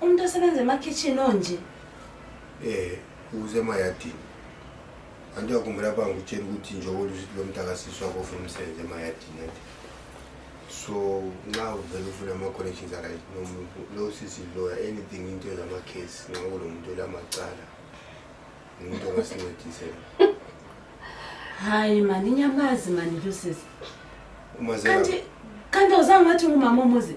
Umuntu osebenza emakhitshini onje. Eh, uze emayadini. Anti uyakhumbula pha ngikutshela ukuthi njengoba usithi lo mntaka siswa kofuna umsebenzi emayadini anti. So nxa uvele ufuna ama-connections aright nomuntu lo sisi lawyer anything into ezama-case nxa kulo muntu olamacala umuntu ongasincedisela hayi mani inyamazi mani lusisi kanti kanti awuzange wathi ngumama omuzi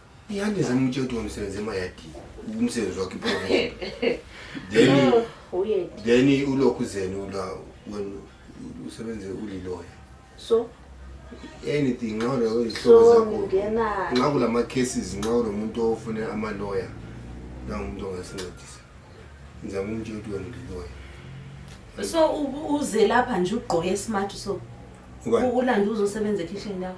Ihande zami utshedwa umsebenzi emayadini. Umsebenzi wakhe ibona. Then Weird. then ulokhu zeni ula wena usebenze uliloya. So, Anything nxa ulokhu izihlobo so zakho. ngingena Nxa kulama cases nxa ulomuntu ofune ama lawyer nangu umuntu ongasincedisa. Ngizama umtshela ukuthi wena uliloya. so u- uze lapha nje ugqoke smart so Ubani? ulande uzosebenza ekhishini yakho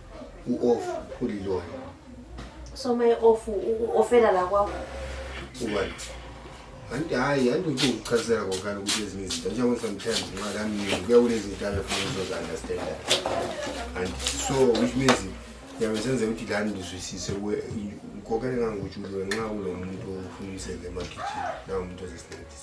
u-off uliloyo so uma e-off u-ofela la kwakho ubani anti hhayi anti uthi ukuchazela kokani ukuthi ezinye izinto njengoba sometimes imali aminingi kuya kunezinto abefuna uzozi-understanda and so which means yabe senze ukuthi lani ndizwisise kokani ngangokuthi ulo nxa kulo muntu ofuna umsebenzi emagijini nawo muntu ozesincedisa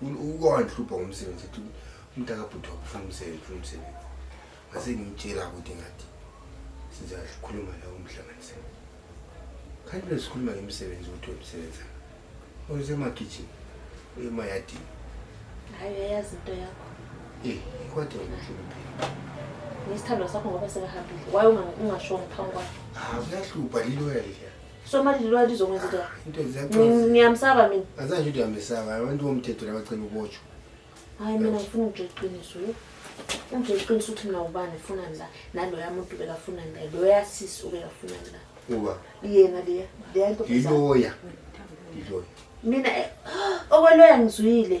ukowandihlupha ngomsebenzi ethi umuntu akabhuti wakufuna umsebenzi funa umsebenzi ngase ngimtshela ukuthi ngathi sizakhuluma la umhlanganise kanti besikhuluma ngemisebenzi ukuthi wemsebenza usemagijini uyemayadini hayi uyayazi into yakho eyi kodwa ngimhluphe nesithandwa sakho ngoba sekahambile waye ungashongo phambi kwakhe ah, kuyahlupha lilo yaliya So manje lilwa lizokwenza into yakhe. Into zakho. Ngi- Ngiyamsaba mina. Azange into yamesaba abantu bomthetho labacela ubotshwa. Hayi mina ngifuna ukutshela iqiniso. yo. Ungitshela iqiniso ukuthi mina ubani ufunani la. Naloya muntu bekafunani la. Loya sisi ubekafunani la. Uba Yena leya. Leya nto. yiloya. Yiloya. Mina eh, okweloya ngizwile.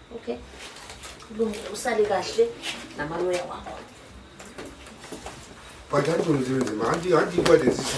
okay kulungile usale kahle namaloya wakho but anti mzimzima anti anti kwadesisiku